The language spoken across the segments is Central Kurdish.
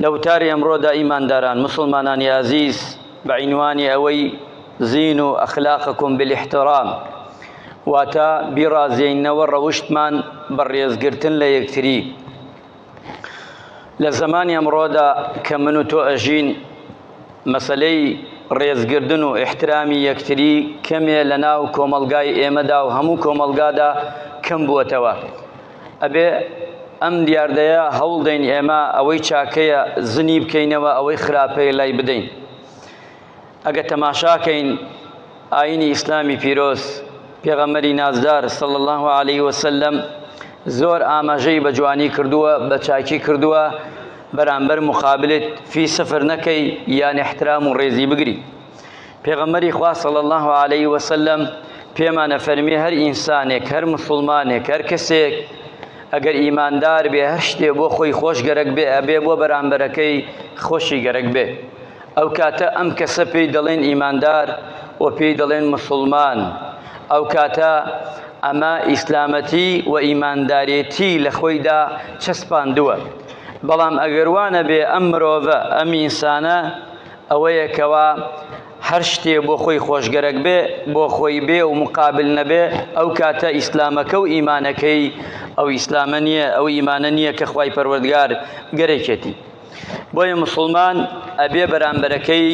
لە وتاری ئەمڕۆدا ئیمانداران مسلمانانی ئازیز بە عینوانی ئەوەی زین و ئەخلاقکم بالاحترام واتە بیڕازێنەوە ڕەوشتمان بە ڕێزگرتن لە یەکتری لە زمانی ئەمڕۆدا کە من و تۆ ئەژین مەسلەی ڕێزگردن و احترامی یەکتری کەمێ لە ناو کۆمەلگای ئێمەدا و هەموو کۆمەلگادا کەم بووەتەوە ئەبێ ئەم دیاردەیە هەوڵ دەین ئێمە ئەوەی چاکەیە زنی بکەینەوە ئەوەی خراپەیە لای بدەین ئەگە تەماشاکەین ئاینی ئیسلامی پیرۆز پێغەمەری نازدار سەڵ الله عليه وسلم زۆر ئاماژەی بە جوانی کردووە بە چاکی کردووە بەرامبەر مقابلت فی سفر نەکەی یان احترام و ڕێزی بگری پێغەمبەری خوا صلی الله علیه و سلم پێمانە فەرمی هەر ئینسانێک هەر مسلمانێک هەر کەسێک ئەگەر ئیماندار بێ هەر شتێ بۆ خۆی خۆش گەرەک بێ ئەبێ بۆ بەرامبەرەکەی خۆشی گەرەک بێ ئەو کاتە ئەم کەسە پێی دەڵێن ئیماندار و پێی دەڵێن مسلمان ئەو کاتە ئەمە ئیسلامەتی و ئیماندارێتی لە خۆیدا چەسپاندووە بەڵام ئەگەروانە بێ ئەم مرۆڤە ئەم ئینسانە ئەوەیە کەوا هەر شتێ بۆ خۆی خۆشگەرەک بێ بۆ خۆی بێ و مقابل نەبێ ئەو کاتە ئیسلامەکە و ئیمانەکەی ئەو ئیسلامە نییە ئەو ئیمانە نییە کە خوای پەروەردگار گەرەکێتی بۆیە مسلمان ئەبێ بەرامبەرەکەی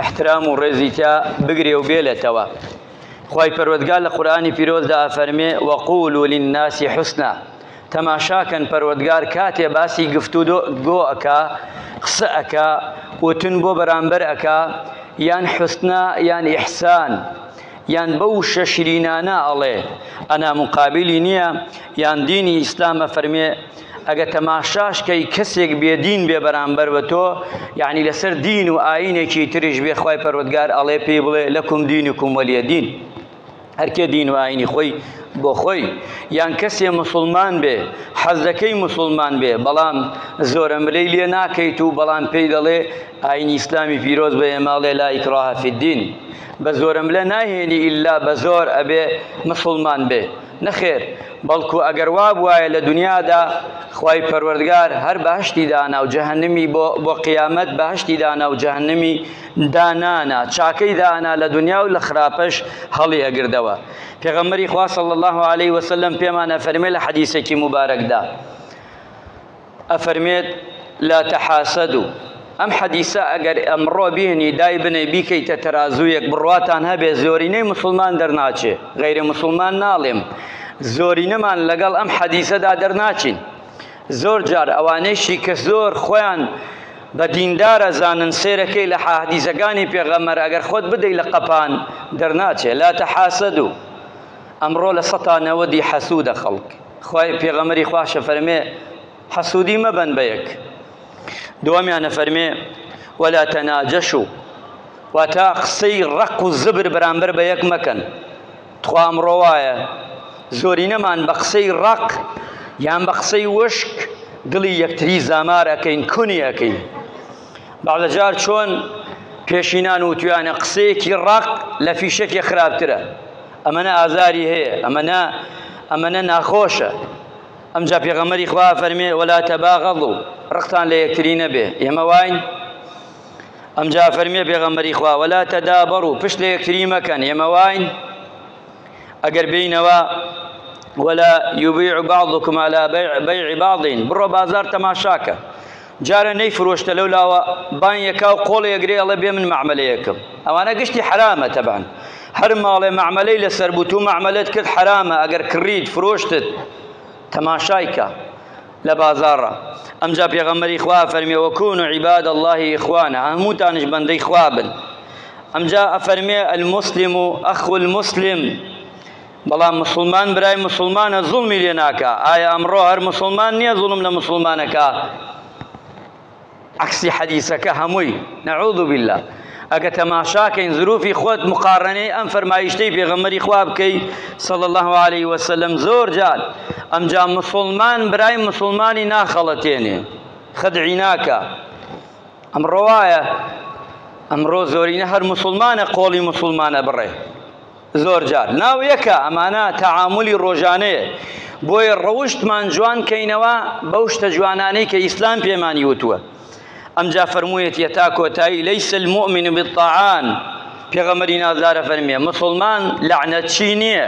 احترام و ڕێزی تا بگرێ و بێلێتەوە خی پەروەگال لە قورآانی پیرۆزدا ئەفەرمێ وەقول و للناسی حسنا تەماشا کەن پەروەدگار کاتێ باسی گفتو دۆ گۆ ئەکا قسە ئەکا وتن بۆ بەرامبەر ئەکا یان حسنا یان ئیحسان یان بەو شە شرینانە ئەڵێ ئەنا مقابلی نییە یان دینی ئیسلامە فەرمێ ئەگە تەماشاش کەی کەسێک بێدین بێ بەرامبەر بە تۆ یعنی لەسەر دین و ئاینێکی تریش بێخوای پەروەگار ئەڵێ پێی بڵێ لەکم دینکم وەلیە دین. هەرکێ دین و ئاینی خۆی بۆ خۆی یان کەسێ مسلمان بێ حەزەکەی مسلمان بێ بەڵام زۆرە ملەی لێ ناکەیت و بەڵام پێی دەڵێ ئاینی ئیسلامی پیرۆز بە ئێماڵێ لا ئیکراهە فی الدین بە زۆرە ملە ناهێنی ئیلا بە زۆر ئەبێ مسلمان بێ نەخێر بەڵکو ئەگەر وا بواە لە دنیادا خی پەروەردگار هەر بەهشتی دانا و جەهنمی بۆ بۆ قیامەت بەهشتی دانا و جەهنمی دانانا چاکەی دانا لە دونیا و لە خراپەش هەڵی ئەگردەوە پێغەمبەری خوا صلی الله علیه وسلم پێمان ئەفەرمێ لە حەدیسێکی مبارەکدا ئەفەرمێت لا تحاسدو ئەم حەدیسە ئەگەر ئەمڕۆ بینی دای بنێ بیکەیتە تەرازوویەک بڕواتان هەبێ زۆرینەی مسلمان دەرناچێ غیرە مسلمان ناڵێم زۆرینەمان لەگەڵ ئەم حەدیسەدا دەرناچین زۆر جار ئەوانەیشی کە زۆر خۆیان بە دیندار ئەزانن سەیرەکەی لە حاهدیسەکانی پێغەمبەر ئەگەر خۆت بدەی لە قەپان دەرناچێ لا تحاسدو ئەمڕۆ لە سەتا نەوەدی حەسودە خەڵک خوای پێغەمبەری خواشە فەرمێ حەسودی مەبەن بە یەک دووەمیانە فەرمێ ولا تناجشوا واتا قسەی ڕق و زبر بەرامبەر بە یەک مەکەن تخوا ئەمڕۆ وایە زۆرینەمان بە قسەی ڕەق یان بە قسەی وشک دڵی یەکتری زامار ئەەکەین کونی ئەەکەین باڵەجار چۆن پێشینان و تویانە قسەیەکی ڕق لە فیشەکی خراپترە ئەمەە ئازاری هەیە ئەمەە ئەمەە ناخۆشە ئەمجا پێغەمەری خوا فەرمێ وەلا تەباغەڵ و ڕقتان لە یەکتری نەبێ ئێمە واین ئەمجا فەرمیێ پێغەمبەری خوا وەلا تەدابەڕ و پشت لە یەکتری مەکەن ئێمە واین ئەگەر بینەوە وەلا یوبیع بعضکم على بیع بعض بڕۆ بازار تەماشاکە جارە نەی فرۆشتە لەو لاوە بان یەکا و قۆڵ یەگرێ ئەڵێ بێ من معملەیەکم ئەوانە گشتی حرامە تەبان هەر ماڵێ معملەی لەسەر بوو تو معملت کرد حرامە ئەگەر کڕیت فرۆشتت تەماشایکە لە بازاڕا ئەمجا پێغەمبەری خوا فەرمێ وەکون عیباد الله اخوانا هەمووتانش بەندەی خوا بن ئەمجا ئەفەرمێ المسلم و ئەخو المسلم بەڵام مسلمان برای مسلمانە زوڵمی لێ ناکە ئایا ئەمڕۆ هەر مسلمان نییە زوڵم لە مسلمانەکە عەکسی حەدیسەکە هەمووی نعوذ باللە ئەگە تەماشاکەین زروفی خۆت مقارنەی ئەم فەرمایشتەی پێغەمەری خوا بکەی صلی الله علیه وسلم زۆر جار ئەمجا مسلمان برای مسلمانی ناخەڵەتێنێ خدعی ناکە ئەمڕۆ وایە ئەمڕۆ زۆرینە هەر مسلمانە قۆڵی مسلمانە بڕێ زۆر جار ناو یەکە ئەمانە تەعامولی ڕۆژانەیە بۆیە ڕەوشتمان جوان کەینەوە بەو شتە جوانانەی کە ئیسلام پێمانی وتووە ئەمجا فەرموویەتی تا کۆتایی لەیس المؤمن بالطعان پێغەمبەری نازدارە فەرمیێ مسلمان لەعنەتچی نییە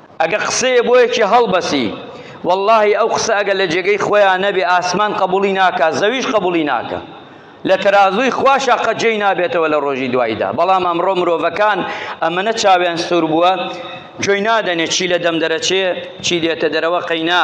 ئەگە قسەیە بۆ یەکی هەڵبەسی واللەهی ئەو قسە ئەگە لە جێگەی خۆیان نەبێ ئاسمان قەبوڵی ناکا زەویش قەبوڵی ناکا لە تەرازووی خواشا قەت جێی نابێتەوە لە ڕۆژی دوایدا بەڵام ئەمڕۆ مرۆڤەکان ئەمەنە چاویان سوور بووە جۆی نادەنێ چی لە دەم دەرەچێ چی دێتە دەرەوە قەینا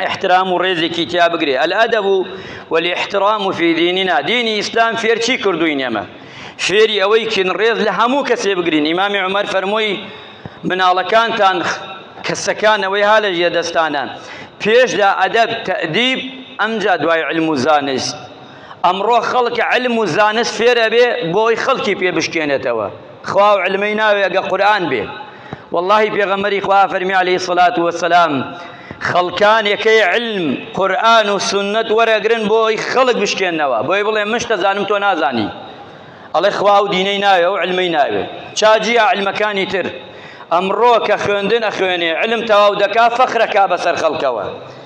ئیحترام و ڕێزێکی تیا بگرێ الادب والاحترام فی دیننا دینی ئیسلام فێر چی کردوین ئێمە فێری ئەوەی کین ڕێز لە هەموو کەسێ بگرین ئیمامی عومەر فەرمووی مناڵەکانتان کەسەکانەوەی ها لە ژێ دەستانە پێشدا ئەدەب تەدیب ئەمجا دوای علم و زانست ئەمڕۆ خەڵک علم و زانست فێر ئەبێ بۆ ئەوەی خەڵکی پێ بشکێنێتەوە خوا و علمەی ناوێ ئەگە قورئان بێ واللهی پێغەمبەری خوا فەرمی علیه الصلاة والسلام خەڵکان یەکەی علم قورئان و سنت وەرەگرن بۆ ئەوەی خەڵک بشکێنەوە بۆی بڵێ من شتە زانم تۆ نازانی ئەڵێ خوا و دینەی ناوێ و علمەی ناوێ چاجی علمەکانی تر ئەمڕۆ کە خوێندن ئەخوێنێ علم تەواو دەکا فەخرەکا بەسەر خەڵکەوە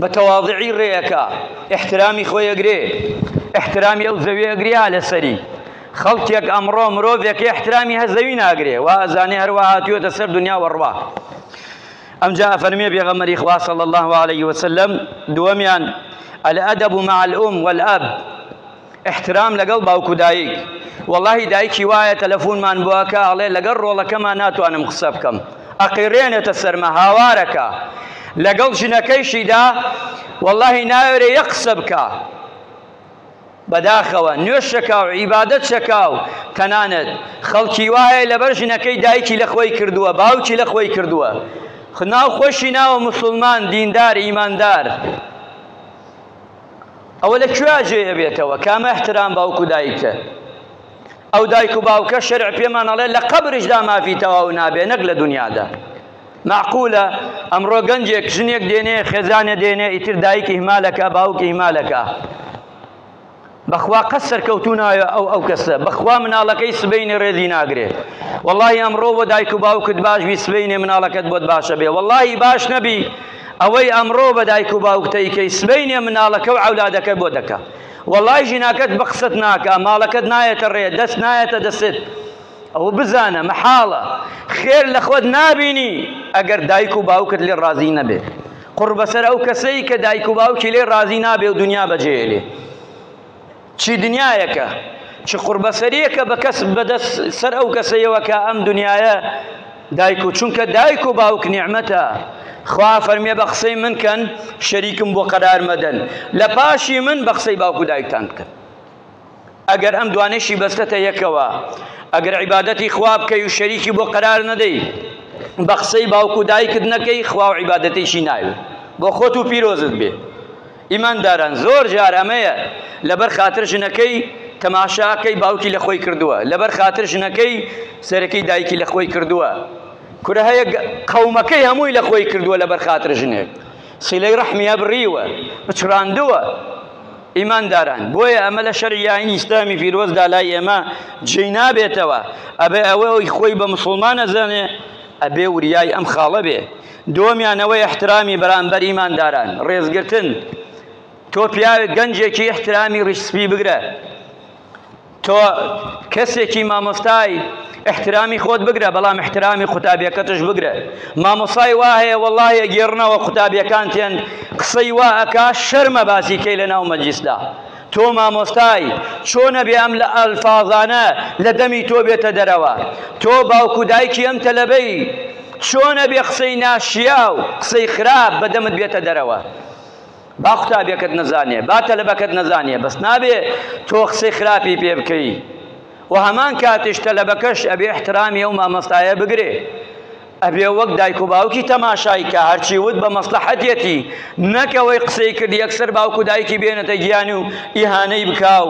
بە تەواضعی ڕێئەکا ئیحترامی خۆی ئەگرێ ئیحترامی ئەو زەویە ئەگرێ یا لەسەری خەڵکێک ئەمڕۆ مرۆڤێک ئیحترامی هە زەوی ناگرێ وا ئەزانێ هەروە هاتووەتە سەر دنیا وەڕوا ئەمجا ئەفەرمێ پێغەمەری خوا صلی الله عليه وسلم دووەمیان الأدب مع الأم والأب احترام لەگەڵ باوک و دایک. وەڵاهی دایکی وایە تەلەفونمان بۆکە ئەڵێ لەگەڵ ڕۆڵەکەما ناتوانم قسە بکەم ئەقیڕێنێتە سەرمە هاوارەکە لەگەڵ ژنەکەیشیدا وەڵاهی ناوێرێ یەک قسە بکا بەداخەوە نوێش شەکاو عیبادەت شەکاو تەنانەت خەڵکی وایە لەبەر ژنەکەی دایکی لە خۆی کردووە باوکی لە خۆی کردووە خناو خۆشی ناوە مسلمان دیندار ئیماندار ئەوە لە کوێ جێ ئەبێتەوە کامە احترام باوک و دایکە ئەو دایک و باوکە شەرع پێمان ئەڵێ لە قەبرشدا مافی تەواو نابێ نەک لە دنیادا معقولە ئەمڕۆ گەنجێک ژنێک دێنێ خێزانێ دێنێ ئیتر دایک ئیهمالەکە باوک ئیهمالەکە بەخوا قەت سەرکەوتوو نایە ئەو ئەو کەسە بەخوا مناڵەکەی سبەینێ ڕێزی ناگرێ وەڵی ئەمڕۆ بۆ دایک و باوکت باش بی سبەینێ مناڵەکەت بۆت باشە بێ وەڵی باش نەبی ئەوەی ئەمڕۆ بە دایک و باوکتەیکەی سبەینێ مناڵەکە و عولادەکە بۆ دەکە وەڵی ژیناکەت بە قسەت ناکە ماڵەکەت نایەتە ڕێ دەست نایەتە دەستێت ئەوە بزانە مەحاڵە خێر لە خۆت نابینی ئەگەر دایک و باوکت لێ ڕازی نەبێت قوڕ بەسەر ئەو کەسەی کە دایک و باوکی لێ ڕازی نابێ و دنیا بەجێ ئەلێ چی دنیایەکە چ قوڕ بەسەریەکە بە کەس بەدەست سەر ئەو کەسەیەوە کە ئەم دنیاە دایک و چونکە دایک و باوک نیعمەتە خوا فەرمێ بە قسەی من کەن شەریکم بۆ قەرار مەدەن لە پاشی من بە قسەی باوک و دایکتان بکەن ئەگەر ئەم دوانەشی بەستەتە یەکەوە ئەگەر عیبادەتی خوا بکەی و شەریکی بۆ قەرار نەدەی بە قسەی باوک و دایکت نەکەی خوا و عیبادەتێکی ناوێ بۆ خۆت و پیرۆزت بێ ئیمانداران زۆر جار ئەمەیە لەبەر خاتر ژنەکەی تەماشاکەی باوکی لە خۆی کردووە لەبەر خاتر ژنەکەی سەرەکەی دایکی لە خۆی کردووە کورە هەیە قەومەکەی هەمووی لە خۆی کردووە لەبەر خاتر ژنێک سیلەی ڕەحمیە بڕیوە بچڕاندووە ئیمانداران، بۆیە ئەمە لە شەرعی ئاینی ئیسلامی پیرۆزدا لای ئێمە جێی نابێتەوە، ئەبێ ئەوەی خۆی بە موسڵمان ئەزانێ ئەبێ وریای ئەم خاڵە بێ. دووەمیان ئەوەی ئیحترامی بەرامبەر ئیمانداران، ڕێزگرتن، تۆ پیاوێک گەنجێکی ئیحترامی ڕیش سپی بگرە، تۆ کەسێکی مامۆستای احترامی خۆت بگرە بەڵام احترامی قوتابیەکەتش بگرە مامۆسای وا هەیە وەڵاهەیە گێڕنەوە قوتابیەکان تێن قسەی وا ئەکا شەرمە باسیکەی لە ناو مەجلیسدا تۆ مامۆستای چۆنە بێ ئەم لە ئەلفاظانە لە دەمی تۆ بێتە دەرەوە تۆ باوکو دایکی ئەم تەلەبەی چۆنە بێ قسەی ناشیاو قسەی خراپ بەدەمت بێتە دەرەوە با قوتابیەکەت نەزانێ با تەلەبەکەت نەزانێ بەس نابێ تۆ قسەی خراپی پێ بکەی و هەمان کاتیش تەلەبەکەش ئەبێ احترامی ئەو مامۆستایە بگرێ ئەبێ وەک دایک و باوکی تەماشای کە هەرچی وت بە مەسلحەتێتی نەکەوەی قسەی کرد یەکسەر باوک و دایکی بێنێتە گیانی و ئیهانەی بکاو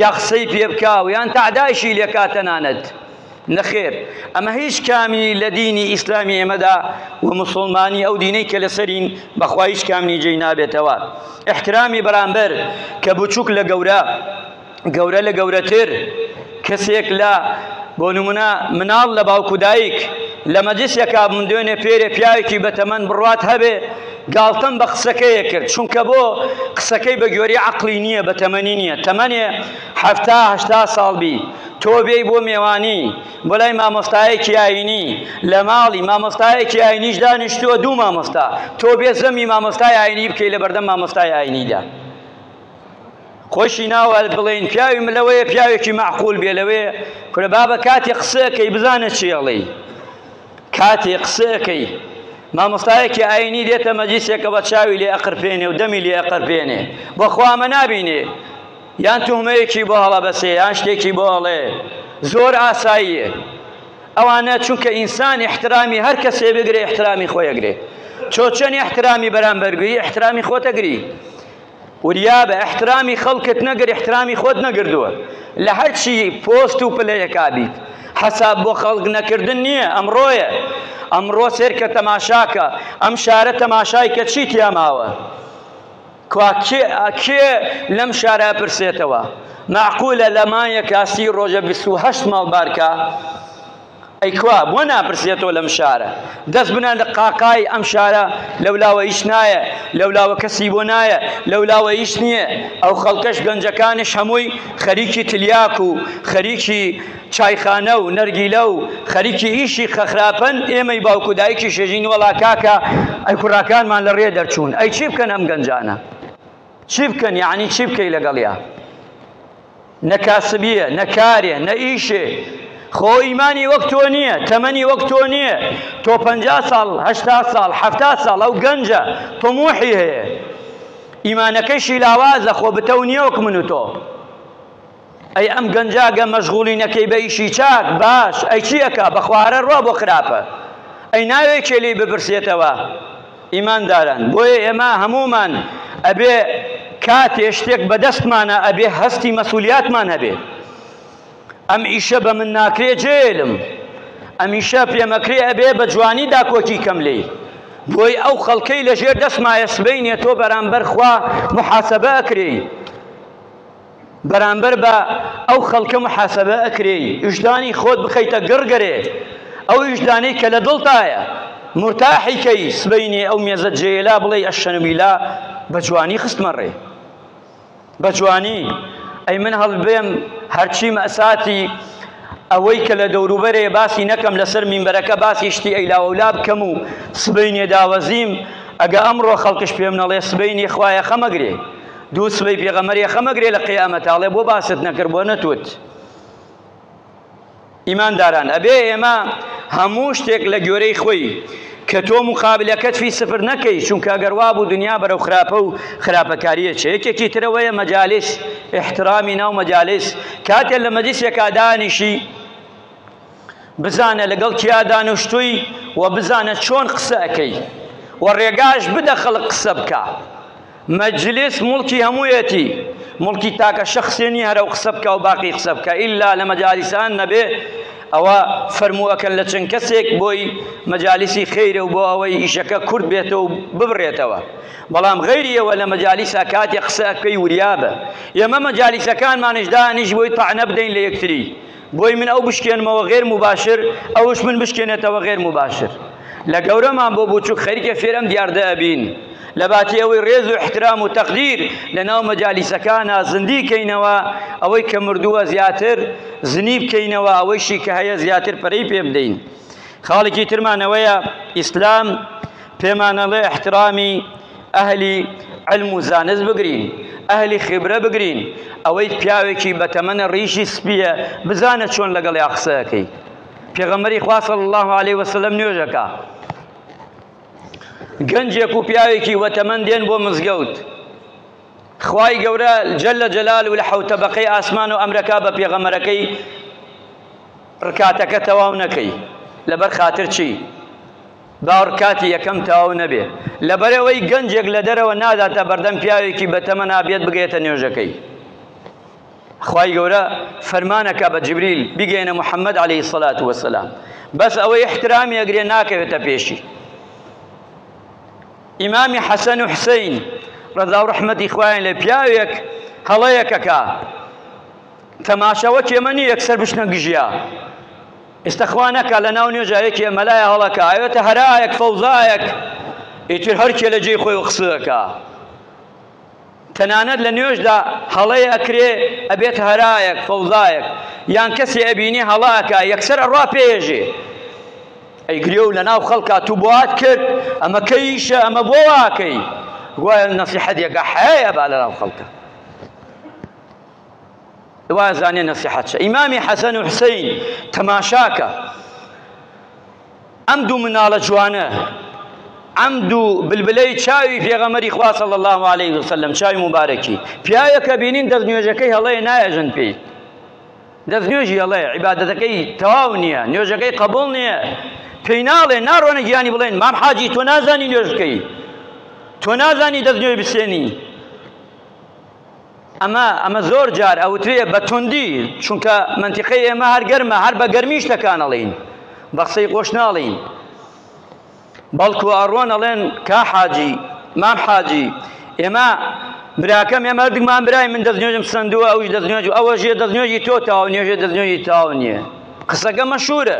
یا قسەی پێ بکاو یان تەعدایشی لێکا تەنانەت نەخێر ئەمە هیچ کامی لە دینی ئیسلامی ئێمەدا و مسوڵمانی ئەو دینەی کە لەسەرین بەخوا هیچ کامنی جێی نابێتەوە احترامی بەرامبەر کە بچووک لە گەورە گەورە لە گەورەتر کەسێک لە بۆ نمونە مناڵ لە باوکو دایک لە مەجلسێکا من دوێنێ پێرێ پیاوێکی بەتەمەن بڕوات هەبێ گاڵتەم بە قسەکەیە کرد چونکە بۆ قسەکەی بە گوێری عقلی نییە بە تەمەنی نییە تەمەنێ هەفتاهشتا ساڵ بی تۆ بێی بۆ مێوانی بۆ لای مامۆستایەکی ئاینی لە ماڵی مامۆستایەکی ئاینیش دانیشتووە دوو مامۆستا تۆ بێ زەمی مامۆستای ئاینی بکەی لە بەردەم مامۆستای ئاینیدا خۆشی ناوە بڵێن پیاوی من لەوەیە پیاوێکی معقول بێ لەوێ کورە بابە کاتێ قسەکەی بزانە چێڵی کاتێ قسەکەی مامۆستایەکی ئاینی دێتە مەجیسێکە بە چاوی لێ ئەقرپێنێ و دەمی لێ ئەقرپێنێ بەخوا ئەمە نابینێ یان توهمەیەکی بۆ هەڵەبەسێ یان شتێکی بۆ ئەڵێ زۆر ئاساییە ئەوانە چونکە ئینسان احترامی هەر کەسێ بگرێ احترامی خۆی ئەگرێ تۆ چەند احترامی بەرامبەرگری احترامی خۆت ئەگری وریا بە احترامی خەڵکت نەگر احترامی خۆت نەگردووە لە هەرچی پۆست و پلەیەکا بیت حەساب بۆ خەڵک نەکردن نییە ئەمڕۆیە ئەمڕۆ سێرکە تەماشاکە ئەم شارە تەماشای کە چی تیاماوە کوا کێ کێ لەم شارە پرسێتەوە معقولە لە مایەکە سی ڕۆژە بیست و هەشت ماڵ بارکە ئەی کوا بۆ ناپرسێتەوە لەم شارە دەست بنان لە قاقای ئەم شارە لەولاوە هیچ نایە لەولاوە کەسی بۆ نایە لەولاوە هیچ نییە ئەو خەڵکەش گەنجەکانش هەمووی خەریکی تلیاک و خەریکی چایخانە و نەرگیلە و خەریکی ئیشی خخراپن ئێمەی باوک و دایکیش ئەژین وەڵا کاکە ئەی کوڕاکانمان لە ڕێ دەرچوون ئەی چی بکەن ئەم گەنجانە چی بکەن یعنی چی بکەی لەگەڵیا نەکاسبیە نەکارێ نە ئیشێ خۆ ئیمانی وەک تۆ نییە تەمەنی وەک تۆ نییە تۆ پ ساڵ هشتا ساڵ ه ساڵ ئەو گەنجە تۆمۆحی هەیە ئیمانەکەشی لاوازە خۆ بتەو نییە وەک من و تۆ ئەی ئەم گەنجە گە مەشغولی نەکەی بە ئیشی چاک باش ئەی چی ئەکا بەخوا هەرە ڕوا بۆ خراپە ئەی ناوێ کێ لێی بپرسێتەوە ئیمانداران بۆیە ئێمە هەمومان ئەبێ کاتێ شتێک بەدەستمانە ئەبێ هەستی مەسولیاتمان هەبێ ئەم ئیشە بە من ناکرێ جێلم ئەمیشە پێمەکرێ ئەبێ بە جوانی داکۆکی کەم لێ بۆی ئەو خەڵکەی لەژێر دەستمایە سبینێ تۆ بەرامبەر خوا محاسبە ئەکرێی بەرامبەر بە ئەو خەڵکە محاسەبە ئەکرێی ویژدانی خۆت بخەیتە گڕ گەرێ ئەو ویژدانەی کە لە دڵتایە مورتاحی کەی سبەینێ ئەو مێزە جێیە لا بڵێی ئەشەنویلا بە جوانی خستمە ڕێ بە جوانی ئەی من هەڵبێم هەرچیم ئەساتی ئەوەی کە لە دەوروبەرێ باسی نەکەم لەسەر مینبەرەکە باسی شتی ئەیلاوەلا بکەم و سبەینێ داوەزیم ئەگە ئەمڕۆ خەڵکش پێم نەڵێ سبەینێ خوایە خەمەگرێ دوو سبەی پێغەمەر یەخەمەگرێ لە قیامەت ئاڵێ بۆ باست نەکرد بۆ نەتوت ئیمانداران ئەبێ ئێمە هەموو شتێک لە گۆرەی خۆی کە تۆ مقابلەکەت فی سفر نەکەی چونکە ئەگەر وا بوو دنیا بەرەو خراپە و خراپەکاریە چ یەکێکی ترەوەیە مەجاالس احترامی ناو مەجاالس کاتێ لە مەجلسێکا دانیشی بزانە لەگەڵ کیا دانیشتووی و بزانە چۆن قسە ئەەکەی و ڕێگاش بدە خەڵک قسە بکە مەجلیس موڵکی هەموویەتی موڵکی تاکە شەخسێ نیە هەرەو قسە بکە و باقی قسە بکە ئیلا لە مەجالیسان نەبێ ئەوە فەرمووەکەن لە چەند کەسێک بۆی مەجالیسی خێرە و بۆ ئەوەی ئیشەکە کورد بێتەوە و ببرێتەوە بەڵام غەیریەوە لە مەجالیسا کاتێ قسەکەی وریابە ئێمە مەجالیسەکانمانش دانیش بۆی تەعنە بدەین لە یەکتری بۆی من ئەو بشکێنمەوە غێر موباشر ئەوش من بشکێنێتەوە غێر موباشر لە گەورەمان بۆ بچووک خەریکە فێر ئەم دیاردە ئەبین لە باتی ئەوەی ڕێز و احترام و تەقدیر لە ناو مەجالیسەکانە زندی کەینەوە ئەوەی کە مردووە زیاتر زنی بکەینەوە ئەوەیشی کە هەیە زیاتر پەرەی پێ بدەین خاڵێکی ترمانەوەیە ئیسلام پێمانەڵێ احترامی ئەهلی علم و زانست بگرین ئەهلی خیبرە بگرین ئەوەی پیاوێکی بەتەمەنە ڕیشی سپیە بزانە چۆن لەگەڵیا قسەکەی پێغەمەری خوا صلی الله علیه وسلم نوێژەکە گەنجێک و پیاوێکی وەتەمەن دێن بۆ مزگەوت خوای گەورە جل لە جەلال و لە حوتە بەقەی ئاسمان و ئەمرەکە بە پێغەمەرەکەی ڕکاتەکە تەواو نەکەی لەبەر خاتر چی باوڕ کاتی یەکەم تەواو نەبێ لەبەرئەوەی گەنجێک لەدەرەوە ناداتە بەردەم پیاوێکی بەتەمەن ئابێت بگەیەتە نوێژەکەی خوای گەورە فەرمانەکە بە جبریل بگەێنە محەممەد عليهەی سەلات وەسەسلام بەس ئەوەی احترامی ئەگرێ ناکەوێتە پێشی ئیمامی حەسەن و حسین ڕەزا و ڕحمەتی خوایان لە پیاوێک هەڵەیەکەکە تەماشەوە کێمە نیە یەکسەر بشنە گژیا ئێستا خوا نەکا لە ناو نوێژا یەکێ مەلایە هەڵەکا ئەوێتە هەرایەک فەوزایەک ئیتر هەرکێ لە جێی خۆی قسەکە تەنانەت لە نوێژدا هەڵەیە ئەکرێ ئەبێت هەرایەک فەوزایەک یان کەسێ ئەبینێ هەڵاکە یەکسەر ئەڕا پێژێ ئەی گرێ و لە ناو خەڵکا تو بۆات کرد ئەمە کەیشە ئەمە بۆ واکەی گوایە نەسیحەتێکە حەیە با لە ناو خەڵکە وا زانێ نەسیحەت چە ئیمامی حەسەن و حسین تەماشاکە ئەم دوو مناڵە جوانە ئەم دوو بلبلەی چاوی پێغەمەری خوا صلی الله علیه وسلم چاوی مبارەکی پیاوێکە بینین دەست نوێژەکەی هەڵەیە نایەژن پێی دەست نوێژی هەڵەیە عیبادەتەکەی تەواو نییە نوێژەکەی قبول نییە پێی ناڵێ ناڕۆنە گیانی بڵێن مام حاجی تۆ نازانی نوێژ بکەی تۆ نازانی دەست نوێ بسێنی ئەمە ئەمە زۆر جار ئەوترێ بە توندی، چونکە مەنتیقەی ئێمە هەر گەرمە، هەر بە گەرمی شتەکان ئەڵێین، بە قسەی خۆش ناڵێین، بەڵکو ئەڕۆن ئەڵێن کا حاجی، مام حاجی، ئێمە براکەم ئێمە هەردووکمان برای، من دەستنوێژم سەندووە، ئەویش دەستنوێژ، ئەوە ژێ دەستنوێژی تۆ تاونییە، ژێ دەستنوێژی تاونییە، قسەکە مەشهوورە.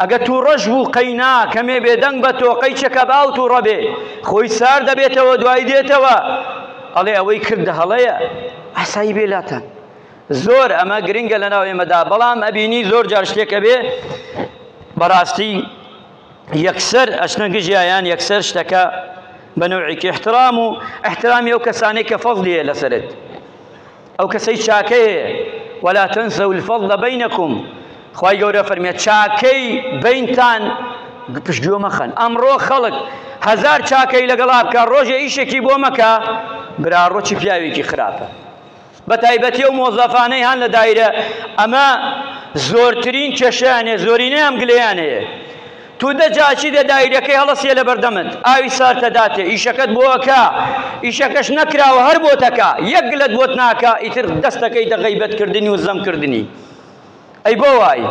ئەگە تووڕەش بوو قەینا کەمێ بێدەنگ بە تۆقەی چەکە باو تووڕە بێ خۆی سار دەبێتەوە دوای دێتەوە ئەڵێ ئەوەی کردە هەڵەیە ئاسایی بێ لاتان زۆر ئەمە گرنگە لە ناو ئێمەدا بەڵام ئەبینی زۆر جار شتێکە بێ بەڕاستی یەکسەر ئەشنە گژیان یەکسەر شتەکە بە نوعێکی احترام و احترامی ئەو کەسانێک کە فەزلیە لەسەرت ئەو کەسەی چاکەیە ولا تنسوا الفضل بینکم خوای گەورە فەرمیێت چاکەی بینتان پشتگوێ مەخەن ئەمڕۆ خەڵک هەزار چاکەی لەگەڵا بکە ڕۆژێ ئیشێکی بۆ مەکە برا ڕۆچی پیاوێکی خراپە بە تایبەتی و مۆزەفانەی هەان لە دایرە ئەمە زۆرترین کێشیانێ زۆرینەیان گلیانەیە تو دە جا چی دە دایرەکەی هە ڵە سیە لە بەر دە مت ئاوی سار تە داتێ ئیشەکەت بۆ ئە کا ئیشەکەش نە کراوە هەر بۆ تە کا یە گلەت بۆت ناکا ئیتر دە ستە کە یتە غەیبەت کردنی و زەم کردنی ئەی بۆ وای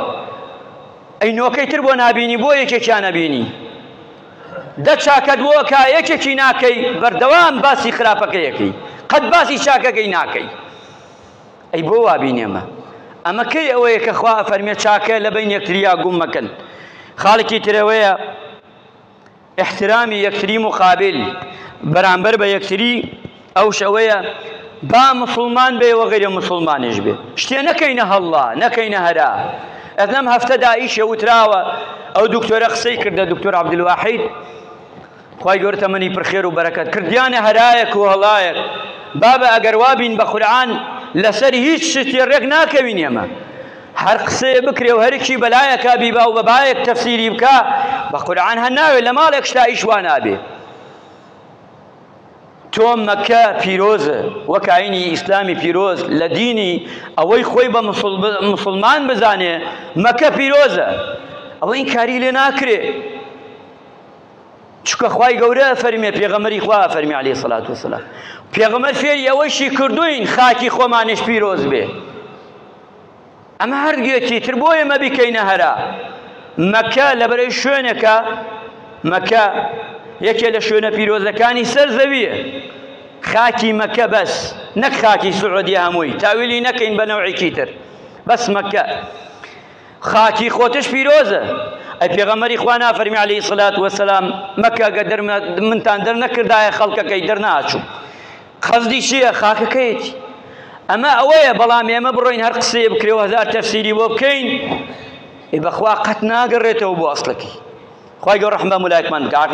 ئەی نۆکەی تر بۆ نابینی بۆ یەکێکیان ئەبینی دە چاکەت بۆ کا یەکێکی ناکەی بەردەوام باسی خراپەکەیەکەی قەت باسی چاکەکەی ناکەی ئەی بۆ وا بینێمە؟ ئەمە کەی ئەوەیە کە خوا ئەفەرمێ چاکە لە بەین یەکتریا گوم مەکەن. خاڵێکی ترەوەیە احترامی یەکتری مقابل بەرامبەر بە یەکتری ئەوش ئەوەیە با مسلمان بێ و غیر مسلمانیش بێ شتێ نەکەینە هەڵڵا نەکەینە هەرا ئەت لەم هەفتەدا ئیشێ وتراوە ئەو دکتۆرە قسەی کردە دکتۆر عبدالواحید خوای گەورە تەمەنی پر خێر و بەرەکەت کردیانە هەرایە کوهەڵایەک بابە ئەگەر وابین بە قورعان لەسەر هیچ شتێ ڕێک ناکەوین ئێمە هەر قسەیە بکرێ و هەرکی بەلایەکە بیبا و بەبایەک تەفسیری بکە بە قورعان هەر ناوێ لە ماڵێک شتا ئیش وا نابێ تۆ مەکە پیرۆزە وەکایینی ئیسلامی پیرۆز لە دینی ئەوەی خۆی بە مسلمان بزانێ مەکە پیرۆزە ئەوە این کاری لێ ناکرێ چونکە خوای گەورە ئەفەرمێ پێغەمبەری خوا ئەفەرمی عەلەیهی سەڵات وسەلام پێغەمبەر فێری ئەوەشی کردوین خاکی خۆمانش پیرۆز بێ ئەمە هەردوێتی تر بۆ ئێمە بیکەینە هەرا مەکە لەبەرەی شوێنەکە مەکە یەکێ لە شوێنە پیرۆزەکانی سەر زەویە خاکی مەکە بەس نەک خاکی سعودیە هەمووی تاویلی نەکەین بە نەوعێکی تر بەس مەکە خاکی خۆتش پیرۆزە ئەی پێغەمەری خوا نافەرمی علی سلات وسلام مەکە گە دەرمە منتان دەرنەکردایە خەڵکەکەی دەرناچوو خەزدی چییە خاکەکەیەتی ئەمە ئەوەیە بەڵام ئێمە بڕۆین هەر قسەیە بکرێ و هەزار تەفسیری بۆ بکەین ای بەخوا قەت ناگەڕێتەوە بۆ ئەسڵەکەی خی گەۆ ڕحمە ملایکمان بکە